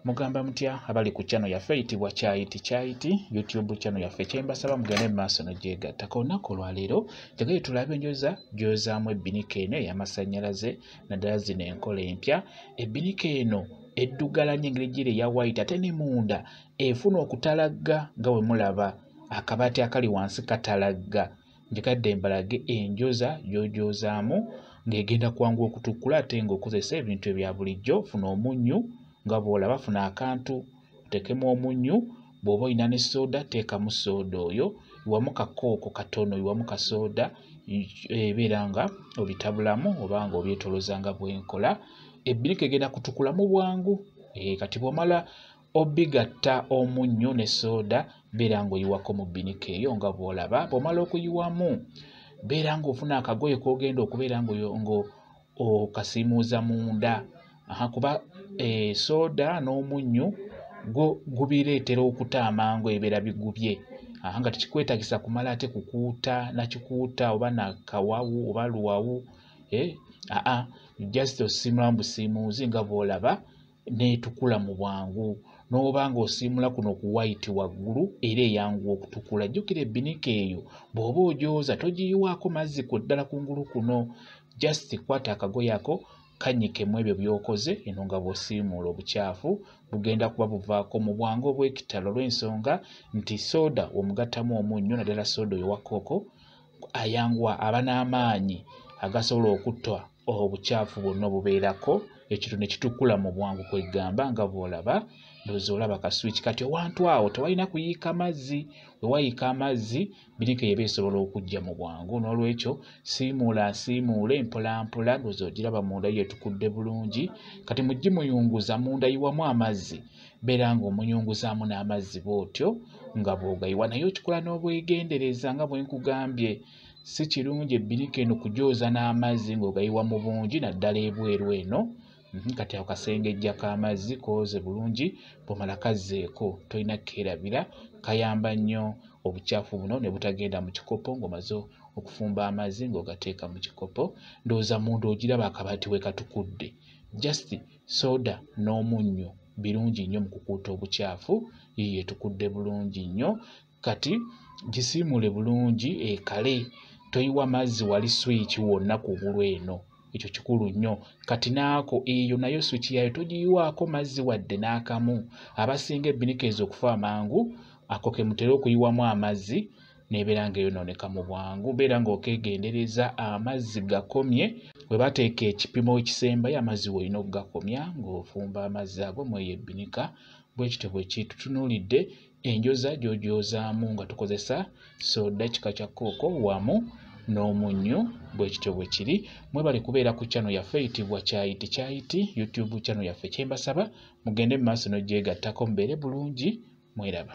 mugamba mutya abali ku channel yaffe eyitibwa kyayiti kyayiti youtube channel yaffe kyembasaba mugende mumaaso nogyegatta ka olunaku olwaleero jagaye tulabe enjoza gyozaamu ebbinika eno eyamasannyalaze naddala zino enkola empya ebbinika eno eddugalanya engeri gyiri eya white ate ne munda efuna okutalagga nga wemulaba akabaati akali wansi katalagga njekadde mbalage enjoza gyojozaamu ng'egenda kwangu okutukkula ate ng'okozesa ebintu ebya bulijjo funa omunnyu nga bw'olaba funa akantu oteekemu omunnyu bw'oba olina ne sooda teekamu sooda oyo iwamu kakooko katono iwamu kasooda ebeera nga obitabulamu oba nga obyetoloza nga bwenkola ebbirika egenda kutukula mu bwangu eh, kati bw'omala obigatta omunnyo ne sooda beera ng'oyiwako mu bbinika eyo nga bw'olaba bw'omala okuyiwamu beera ng'ofuna akagoye k'ogenda okubeera ng'okasiimuuza munda kuba eh, sooda n'omunnyo gwo gubireetera okuta amangu ebibeera bigubye aha nga tekikwetagisa kumala ate kukuuta nakikuuta oba nakawawu oba luwawu eh, aa just osiimulamu busiimuuzi nga bw'olaba n'etukula mu bwangu n'oba ng'osiimula kuno ku wayiti waggulu era eyanguwa okutukula jjukira ebbinika eyo bw'oba ogyoza togiyiwaako mazzi ku ddala ku ngulu kuno just kwata akagoye ako kannyikemu ebyo by'okoze eno nga bw'osiimuula obukyafu bugenda kuba buvaako mu bwangu obw'ekitalo olw'ensonga nti sooda omugattamu omunnyo naddala sooda oyo wa kooko ayanguwa aba n'amaanyi agasobola okutta obukyafu bwonna obubeerako ekiro ne kitukula mu bwangu kwegamba nga bw'olaba ndozi olaba kaswiki kati owantu awo tewalina kuyiika mazzi wewayiika amazzi birika eba esobola okujja mu bwangu n'olwekyo siimuula nsiimuule mpolampola ndozi ogiraba munda yetukudde bulungi kati muggi muyunguza munda yiwamu amazzi beera nga omuyunguzaamu n'amazzi bw'otyo nga bw'ogayiwa naye okikola n'obwegendereza nga bwe nkugambye si kirungi ebbirika eno kugyoza n'amazzi ng'ogayiwa mu bungi naddala ebweru eno mhm, kati ako kasengejja k'amazzi kooze bulungi bwomala kazzeeko tolina kukeerabira kayamba nnyo obukyafu buno ne butagenda mu kikopo ng'omaze okufumba amazzi ng'ogateeka mu kikopo ndowooza munda ogiraba akabaati we katukudde just soda n'omunnyo birungi nnyo mu kukuuta obukyafu yiye tukudde bulungi nnyo kati gisiimule bulungi ekale toyiwa mazzi wali swiiki wonna ku bulu eno ekyo kikulu nnyo kati naako eyo nayo swiki yayo togiyiwaako mazzi wadde n'akamu abasinga ebbinika ezo okufa amangu ako ke mutera okuyiwamu amazzi nebeera nga eyonooneka mu bwangu beera ng'okegendereza amazzi gakomye we bateeka ekipimo ekisembayo amazzi weolina okugakomya ng'ofumba amazzi ago mweyo ebbinika bwekityo bwekiitutunuulidde enjoza gy'ogyozaamu nga tukozesa soda kika kya kooko wamu n'omunnyo bwe kityo bwe kiri mwebale kubeera ku kyano yaffe eyitibwa kyayiti kyayiti youtube kyano yaffe kyembasaba mugende mu maaso n'ogyegattako mubeere bulungi mweraba